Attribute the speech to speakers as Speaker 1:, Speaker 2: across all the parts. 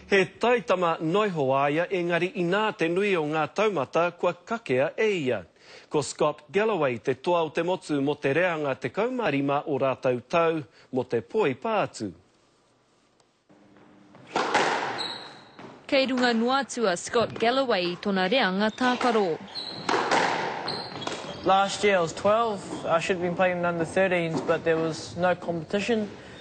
Speaker 1: He taitama noiho a ia engari inā te nui o ngā taumata kua kakea e ia. Ko Scott Galloway te toa o te motu mō te reanga 15 o rātou tau mō te poipa atu.
Speaker 2: Kei runga noa atu a Scott Galloway i tona reanga tākaro.
Speaker 3: Last year I was 12, I should have been playing in under 13s but there was no competition.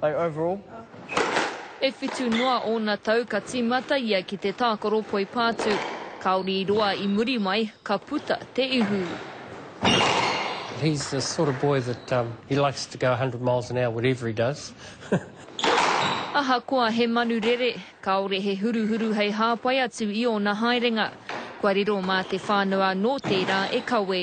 Speaker 3: They overall. E
Speaker 2: whitu noa ōna tau ka tīmata ia ki te tākaro poipātū. Kāore i roa i muri mai, ka puta te ihu. He's
Speaker 4: the sort of boy that um, he likes to go 100 miles an hour, whatever he does.
Speaker 2: Ahakoa he manu rere, kāore he huruhuru hei hāpai atu i ōna haerenga. Kua riro mā te whānau anō tērā e kawē.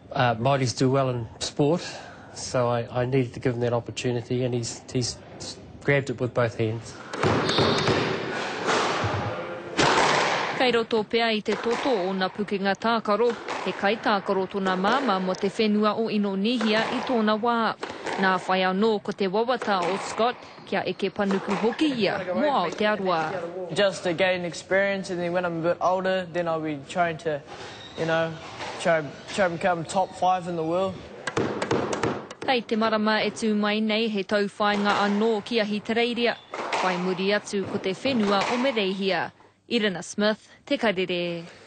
Speaker 4: Māoris do well in sport so I needed to give him that opportunity and he's grabbed it with both hands.
Speaker 2: Kei roto pea i te toto o ōna pukenga tākaro, he kaitākaro tōna māmā mō te whenua o Inonīhia i tōna wā. Nā whai anō ko te wawata o Scott kia eke panuku hoki ia mō Aotearoa. Just to gain
Speaker 3: experience and then when I'm a bit older then I'll be trying to You know, try try become top five in the world.
Speaker 2: Hei te marama e tū mai nei he tauwhāinga anō ki Ahitereiria, whai muri atu ko te whenua o Mereihia. Irina Smith, Te Karere.